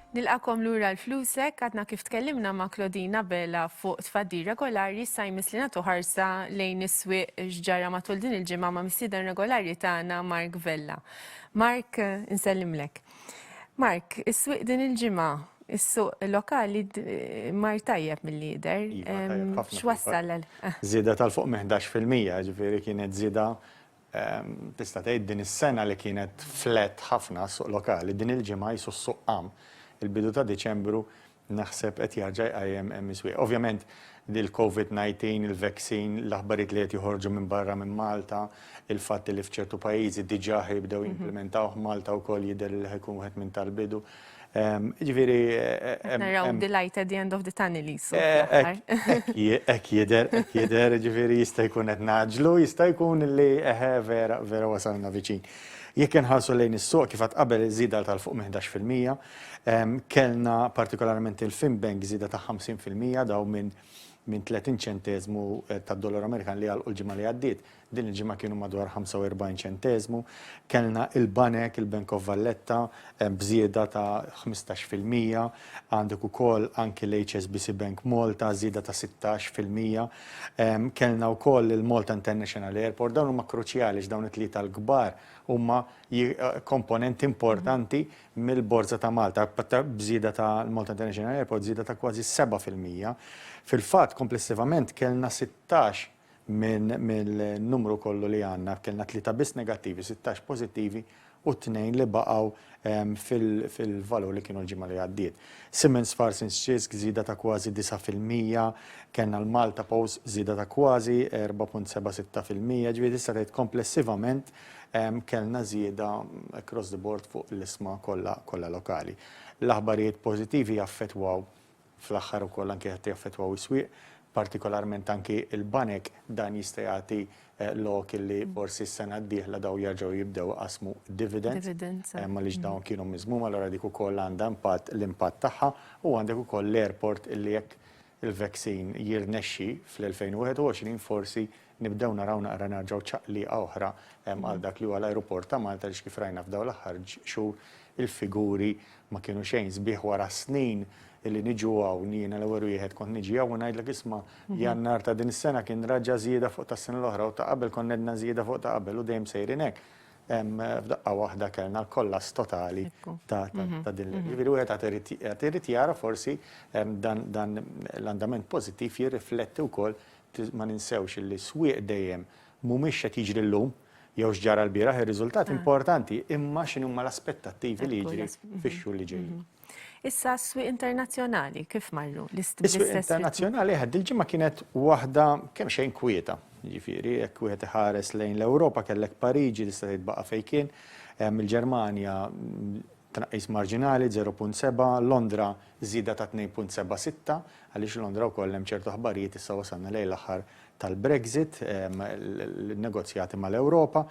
Nilqakom lura l-flusek, għadna kif tkellimna ma' Klodina Bela fuq tfaddi regolari sa' jmiss li natu ħarsa lejn is-swieq xġara matul din il-ġimgħa ma' missieden regolari tagħna Mark Vella. Mark, insellimlek. Mark, is-swieq din il-ġimgħa, is-suq lokali mar tajjeb mill-lider. Iva, X'wassal għal? Żieda tal-fuq minn 11%, ġifieri kienet żieda tista' tgħid din is-sena li kienet flat ħafna s-suq lokali, din il-ġimgħa qisu s-suq qam. Il-bidu ta' Diċembru Naħseb qed jarġa' jqajjem hemm is-swieq. Ovvjament il-Covid 19, il-vaccine, l-aħbarijiet li qed joħorġu minn barra minn Malta, il-fatt li f'ċertu pajjiżi diġà ħa jibdew jimplimentawh, Malta wkoll jidher li ħa jkun wieħed minn tal-bidu. Jiġifieri hemm. Naraw the light at the end of the tunnel qisu. Hekk jidher, hekk jidher, jiġifieri jista' jkun qed ngħaġġlu, jista' jkun li eħe vera, vera wasalna viċin. Jekk inħarsu lejn is-suq kif għedt qabel iż-żieda tal-fuq minn 11 fil-mija, Kellna partikolarment il-Finbank żieda ta' 50 fil-mija dawn minn 30 ċenteżmu tad-dollaru Amerikan li għalqu l-ġimgħa li għaddiet, din il-ġimgħa kienu madwar 45 ċenteżmu. Kellna il-banek, il-Bank of Valletta b'żieda ta' 15 fil-mija, għandek ukoll anki l-HSBC Bank Malta żieda ta' 16 fil-mija. Kellna wkoll il-Malta International Airport, dawn huma kruċjali għax dawn it-tlieta l-kbar huma komponenti importanti mill-Borża ta' Malta, b'żieda ta' l-Malta International Airport żieda ta' kważi 7 fil-mija. Fil-fatt, komplessivament kellna 16 minn mill-numru kollu li għandna, kellna tlieta biss negattivi, 16 pożittivi u tnejn li baqgħu fil-valur li kienu l-ġimgħa li għaddiet. Siemens Fars in Scisk żieda ta' kważi 9 fil-mija, kellna l-Malta Post żieda ta' kważi 4.76 fil-mija, ġifieri tista' tgħid komplessivament Kellna żieda across the board fuq l-isma kollha lokali. L-aħbarijiet pożittivi jaffettwaw fl-aħħar ukoll anki qed jaffettwaw is-swieq, partikolarment anki l-banek. Dan jista' jagħti lok illi forsi s-sena d-dieħla dawn jerġgħu jibdew iqassmu dividends. Dividends. Għaliex dawn kienu miżmuma, allura dik ukoll għandha impatt, l-impatt tagħha. U għandek ukoll l-airport illi jekk il-veksin jirnexxi fl-2021 forsi nibdew naraw naqra nerġgħu ċaqlieqa oħra għal dak li huwa l-ajruport ta' Malta għaliex kif rajna f'dawn l-aħħar xhur il-figuri ma kienu xejn sbieħ wara snin li niġu hawn jiena l-ewwel wieħed kont niġi hawn u ngħidlek isma' Jannar ta' din is-sena kien raġa' żieda fuq tas-sena l-oħra u ta' qabel konna għedna żieda fuq ta' qabel u dejjem sejrin hekk. F'daqqa waħda kellna kollass totali ta' din l-, jiġifieri wieħed għad irid jara forsi dan l-andament pożittiv jirrifletti wkoll, ma ninsewx illi swieq dejjem mhumiex x'qed jiġri llum jew x'ġara l-bieraħ, ir-riżultat importanti imma x'inhuma l-aspettattivi li jiġri fix-xhur li ġejjin. Issa s-swieq internazzjonali kif marru l-istess? Is-swieq internazzjonali ħadd il-ġimgħa kienet waħda kemm xejn kwieta. Jiġifieri jekk wieħed iħares lejn l-Ewropa kellek Pariġi li se titbaqa' fejn kien, il-Ġermanja tnaqqis marġinali 0.7, Londra żieda ta' 2.76 għaliex Londra wkoll hemm ċertu aħbarijiet issa wasalna lejn l-aħħar tal-Brexit, l-negozjati mal-Ewropa.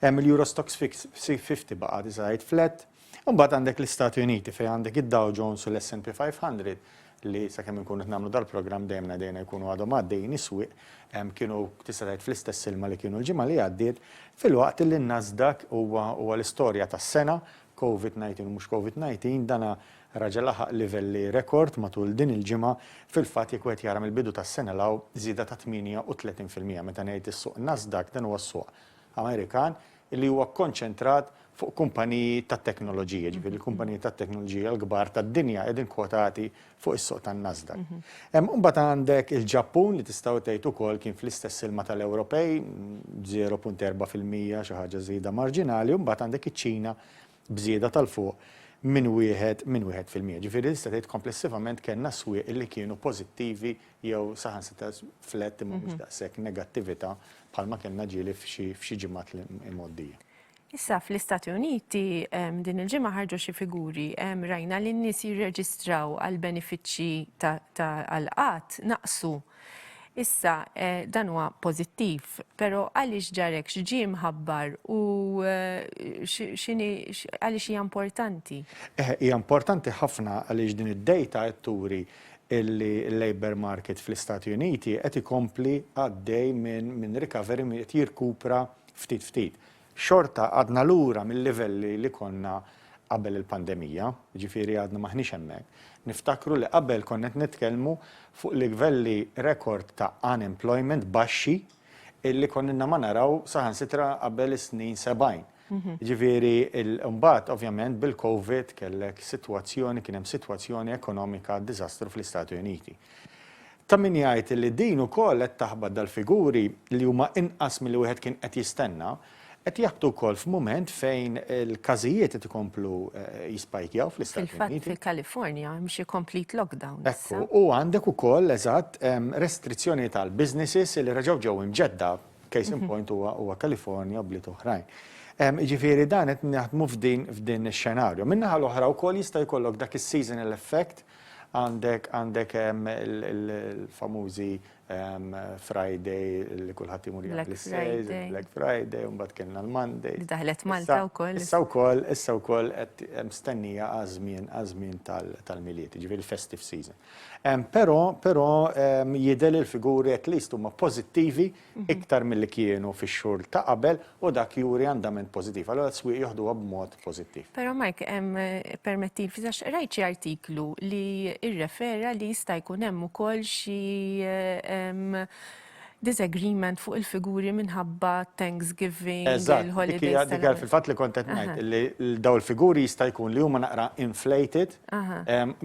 Il-Euro Stoxx 50 baqgħet iżgħid flat, Imbagħad għandek l-Istati Uniti fejn għandek id-Dow Jones u l-S&P 500 li sakemm inkunu qed nagħmlu dal-programm dejjem ngħidejna jkunu għadhom għaddejjin is-swieq, kienu tista' tgħid fl-istess ilma li kienu l-ġimgħa li għaddiet, filwaqt li n-Nasdaq huwa huwa l-istorja tas-sena, Covid 19 u mhux Covid 19, dan raġa' laħaq livelli rekord matul din il-ġimgħa, fil-fatt jekk wieħed jara mill-bidu tas-sena 'l hawn żieda ta' 38 fil-mija, meta ngħid is-suq Nasdaq dan huwa s-suq Amerikan, li huwa kkonċentrat fuq kumpaniji tat-teknoloġija, jiġifieri l-kumpaniji tat-teknoloġija l-kbar tad-dinja qegħdin kwotati fuq is-suq tan-Nasdaq. Hemm imbagħad għandek il-Ġappun li tistgħu tgħid ukoll kien fl-istess ilma tal-Ewropej, 0.4 fil-mija xi ħaġa żieda marġinali, u mbagħad għandek iċ-Ċina b'żieda ta' 'l fuq minn wieħed minn wieħed fil-mija. Ġifieri tista' tgħid komplessivament kellna swieq li kienu pożittivi jew saħansitra flat imma mhux daqshekk negattività bħalma kellna ġieli f'xi f'xi ġimgħat imgħoddija. Issa fl-Istati Uniti din il-ġimgħa ħarġu xi figuri. Rajna li n-nies jirreġistraw għall-benefiċċji ta' għall-qgħad naqsu. Issa, dan huwa pożittiv, però għaliex ġar hekk, x'ġie mħabbar u għaliex hija importanti? Hija importanti ħafna għaliex din id-dejta qed turi li l-labour market fl-Istati Uniti qed ikompli għaddej minn recovery, qed jirkupra ftit ftit. xorta għadna lura mil-livelli li konna qabel il-pandemija, jiġifieri għadna m'aħniex hemmhekk. Niftakru li qabel konna qed nitkellmu fuq livelli rekord ta' unemployment baxxi li konna ma naraw saħansitra qabel is-snin sebgħin. Jiġifieri mbagħad ovvjament bil-COVID kellek sitwazzjoni, kien hemm sitwazzjoni ekonomika diżastru fl-Istati Uniti. Ta' min jgħid li din ukoll qed taħbat dal-figuri, li huma inqas milli wieħed kien qed jistenna, qed jaħbtu wkoll f'mument fejn il-każijiet qed ikomplu jispajkjaw fl-Istati Uniti. Fil-fatt fil-Kalifornja hemm xi complete lockdown issa. Ekku, u għandek ukoll, eżatt, restrizzjonijiet għal businesses li reġgħu ġew imġedda, case in point huwa Kalifornja u bliet oħrajn. Jiġifieri dan qed naħdmu f'din ix-xenarju. Min-naħa l-oħra wkoll jista' jkollok dak is-seasonal effect Għandek għandek il-famużi Friday li kulħadd imur jaqbel is-sejl, Black Friday, u mbagħad kellna l-Monday. Li daħlet Malta wkoll. Issa wkoll, issa wkoll qed mstennija għaż-żmien għaż-żmien tal-Milied, jiġifieri l-festive season. Però però jidher li l-figuri at least huma pożittivi iktar milli kienu fix-xhur ta' qabel u dak juri andament pożittiv. Allura s-swieq joħduha b'mod pożittiv. Però Mike, permettili ftit għax qrajt xi artiklu li rrefera li jista' jkun hemm ukoll xi disagreement fuq il-figuri minħabba Thanksgiving, il-holidays. Eżatt, dik hija fil-fatt li kont qed ngħid li dawn il-figuri jista' jkun li huma naqra inflated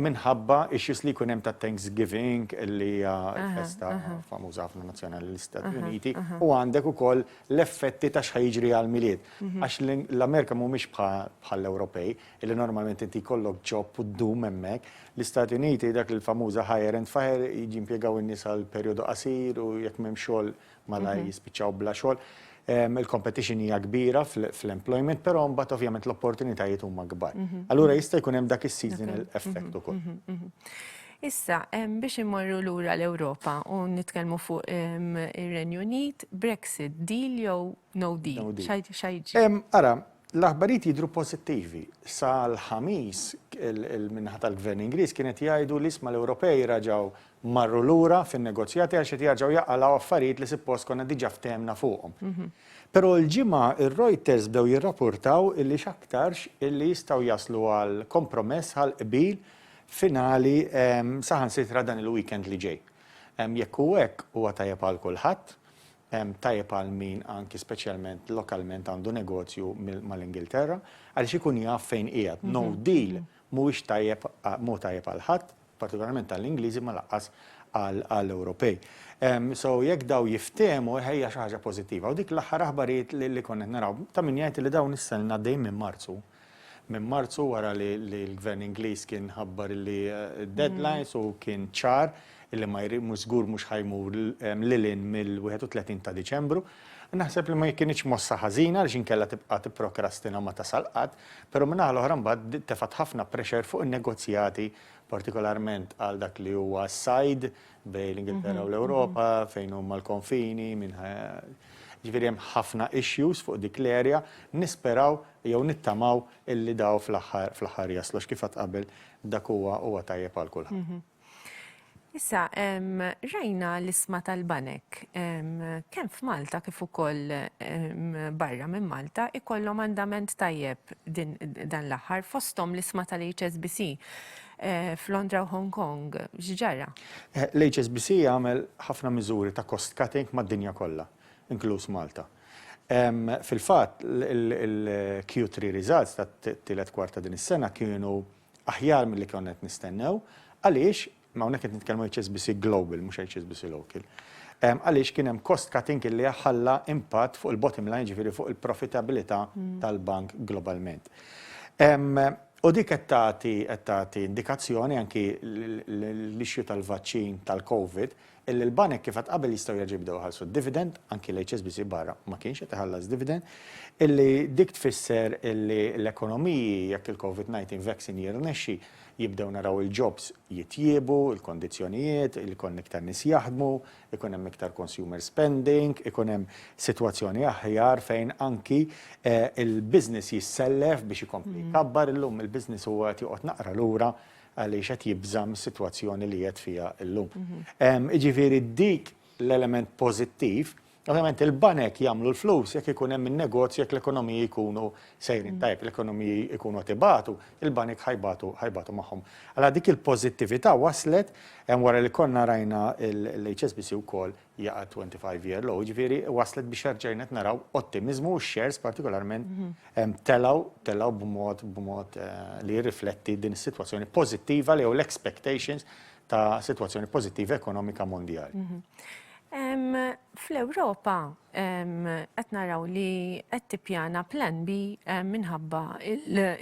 minħabba issues li jkun hemm ta' Thanksgiving li hija festa famuża ħafna nazzjonali l-Istati Uniti u għandek ukoll l-effetti ta' x'ħa jiġri għall-Milied. Għax l-Amerika mhumiex bħall-Ewropej li normalment inti jkollok job u ddum hemmhekk. L-Istati Uniti dak il-famuża hire and fire jiġi impjegaw in-nies għal perjodu qasir u jekk m'hemm xogħol malajr jispiċċaw bla xogħol. Il-competition hija kbira fl-employment, però mbagħad ovvjament l-opportunitajiet huma kbar. Allura jista' jkun hemm dak is-seasonal effect ukoll. Issa, biex immorru lura l-Ewropa u nitkellmu fuq ir-Renju Unit, Brexit, deal jew no deal? X'ha jiġri? Ara, l-aħbarijiet jidhru pożittivi. Sal-Ħamis, il-min-naħa tal-Gvern Ingliż kienet jgħidu li isma' l-Ewropej raġgħu marru lura fin-negozjati għax qed jarġgħu jaqalgħu affarijiet li sippost konna diġà ftehemna fuqhom. Però l-Ġimgħa r-Reuters bdew jirrapurtaw illi x'aktarx illi jistgħu jaslu għal kompromess għal qbil finali saħansitra dan il-weekend li ġej. Jekk hu hekk huwa tajjeb għal kulħadd, tajjeb għal min anki speċjalment lokalment għandu negozju mal-Ingilterra għaliex ikun jaf fejn qiegħed. No deal mhuwiex tajjeb mhu tajjeb għal ħadd partikolarment għall-Ingliżi imma lanqas għall-Ewropej. So jekk daw jiftehmu hija xi ħaġa pożittiva. U dik l-aħħar aħbarijiet li konna qed naraw ta' min jgħid li dawn issa ilna għaddejjin minn Marzu. Minn Marzu wara li l-Gvern Ingliż kien ħabbar li d-deadlines u kien ċar li ma mhux żgur mhux ħa jmur lil hinn mill-31 ta' Diċembru. Naħseb li ma kinitx mossa ħażina għaliex inkella tibqa' tipprokrastina u ma tasal qatt. Però min-naħa l-oħra mbagħad bdiet tefgħet ħafna pressure fuq in-negozjati partikolarment għal dak li huwa s-sajd bejn l-Ingilterra u l-Ewropa fejn huma l-konfini minn Jiġifieri hemm ħafna issues fuq dik l-area, nisperaw jew nittamaw illi daw fl-aħħar fl-aħħar jaslu għax kif għadt qabel dak huwa huwa tajjeb għal kulħadd. Issa, rajna l-isma tal-banek, kemm f'Malta kif ukoll barra minn Malta, ikollhom andament tajjeb dan l-aħħar fosthom l-isma tal-HSBC f'Londra u Hong Kong. X'ġara? Eh, L-HSBC għamel ħafna miżuri ta' cost cutting mad-dinja kollha, inkluż Malta. Fil-fatt, il-Q3 results tat-tielet kwarta din is-sena kienu Aħjar milli konna qed nistennew. Għaliex, hawnhekk qed nitkellmu HSBC Global mhux HSBC Local. Għaliex kien hemm cost cutting illi ħalla impatt fuq il-bottom line, jiġifieri fuq il-profitabilità tal-bank globalment. U dik qed tagħti indikazzjoni anki l-issue tal-vaċċin tal-COVID illi l-banek kif għedt qabel jistgħu jerġgħu jibdew iħallsu d-dividend, anki l-HSBC barra ma kienx qed iħallas dividend, illi dik tfisser illi l-ekonomiji jekk il-COVID-19 vaccine jirnexxi jibdew naraw il-jobs jitjiebu, il-kondizzjonijiet, ikun iktar nies jaħdmu, ikun hemm iktar consumer spending, ikun hemm sitwazzjoni aħjar fejn anki il-business jissellef biex ikompli jkabbar, illum il-business huwa qed joqgħod naqra lura għaliex qed jibża' mis-sitwazzjoni li qiegħed fiha llum. Jiġifieri dik l-element pożittiv, ovvjament il-banek jagħmlu l-flus jekk ikun hemm in-negozju jekk l-ekonomiji jkunu sejrin tajjeb, l-ekonomiji jkunu qed ibatu, il-banek ħa jbatu ħa jbatu magħhom. Allura dik il-pożittività waslet, wara li konna rajna l-HSBC wkoll jaqa' t-25 year low, jiġifieri waslet biex erġajna qed naraw ottimiżmu u x-shares partikolarment telgħu, telgħu b'mod, b'mod li jirrifletti din is-sitwazzjoni pożittiva jew l-expectations ta' sitwazzjoni pożittiva ekonomika mondjali. Fl-Ewropa qed naraw li qed tippjana plan B minħabba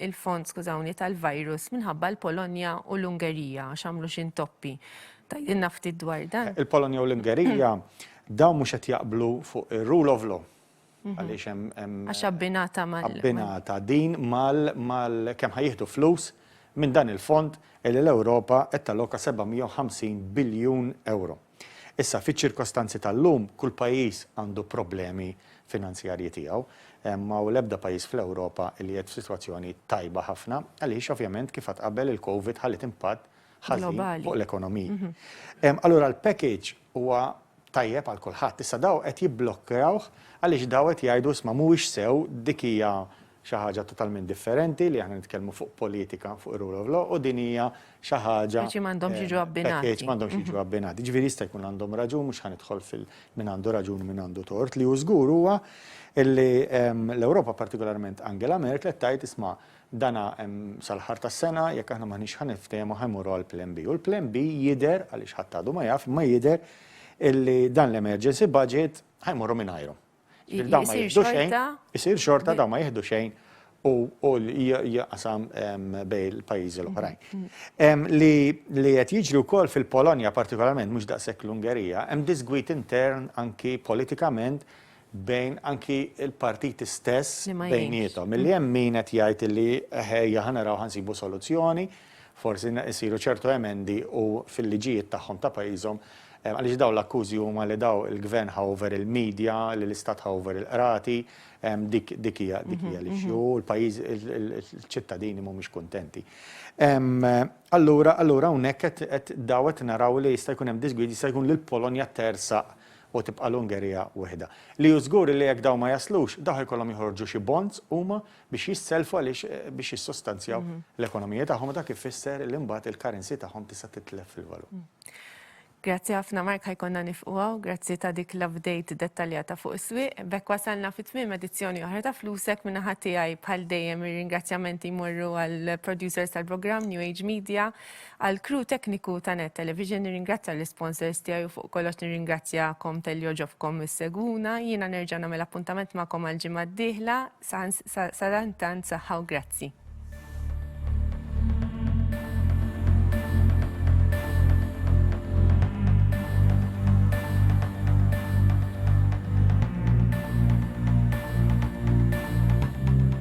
l-fond, skużawni, tal-virus minħabba l-Polonja u l-Ungerija għax għamlu xi ntoppi. Tgħidilna ftit dwar dan. Il-Polonja u l-Ungerija dawn mhux qed jaqblu fuq ir-rule of law. Mhm. Għaliex hemm Għax abbinata mal. Abbinata din mal mal kemm ħajjieħdu flus minn dan il-fond li l-Ewropa qed taloka 750 biljun euro. Issa fiċ-ċirkostanzi tal-lum kull pajjiż għandu problemi finanzjarji tiegħu ma u l-ebda pajjiż fl-Ewropa li qed f'sitwazzjoni tajba ħafna, għaliex ovvjament kif qabel il-COVID ħallit impatt ħażin fuq l-ekonomiji. Allura l-package huwa tajjeb għal kulħadd, issa daw qed jibblokkerawh għaliex daw qed jgħidu isma' mhuwiex sew, dik hija xi ħaġa totalment differenti li aħna nitkellmu fuq politika fuq ir-rule of law u din hija xi ħaġa. Package m'għandhomx jiġu abbinati. Package m'għandhomx jiġu abbinati. Ġifieri jista' jkun għandhom raġun mhux ħanidħol fil min għandu raġun u min għandu tort li hu żgur huwa illi l-Ewropa partikolarment Angela Merkel qed tgħid isma' Dan hemm sal-aħħar tas-sena, jekk aħna m'aħniex ħa niftehmu ħa jmorru għall-Plan B. U l-Plan B jidher, għaliex ħadd għadu ma jaf, imma jidher illi dan l-Emergency Budget ħa jmorru mingħajru. Jiġifieri dawn ma jieħdu xejn, isir xorta dawn ma jieħdu xejn u jaqsam bejn il-pajjiżi l-oħrajn. Li qed jiġri wkoll fil-Polonja partikolarment, mhux daqshekk l-Ungerija, hemm disgwid intern anki politikament bejn anki l-partiti stess bejniethom. Milli hemm min qed jgħid illi ejja ħa naraw ħa nsibu soluzzjoni, forsi isiru ċertu emendi u fil-liġijiet tagħhom ta' pajjiżhom, għaliex dawn l-akkużi huma li dawn il-Gvern ħa over il-media, li l-Istat ħa over il-Qrati, dik hija l-issue u l-pajjiż, il-ċittadini mhumiex kuntenti. Allura hawnhekk qed dawn qed naraw li jista' jkun hemm disgwid, jista' jkun li l-Polonja tersaq u tibqa' l-Ungerija weħidha. Li hu żgur li jekk dawn ma jaslux, dawk ikollhom joħorġu xi bonds huma biex jisselfu għaliex biex jissustanzjaw l-ekonomiji tagħhom u dak ifisser li mbagħad il-currency tagħhom tista' titlef fil-valur. Grazzi ħafna Mark ħajkonna nifqu hawn, grazzi ta' dik l-update dettaljata fuq is-swieq. B'hekk wasalna fi tmiem edizzjoni oħra ta' Flusek minn naħa tiegħi bħal dejjem ir-ringrazzjamenti jmorru għall-producers tal-programm New Age Media, Għall-crew tekniku ta' Net Television nirringrazzja l-isponsors tiegħi u fuq kollox nirringrazzjakom talli għoġobkom issegwuna. Jiena nerġa' nagħmel appuntament magħkom għall-ġimgħa d-dieħla. Sadantant saħħa u grazzi.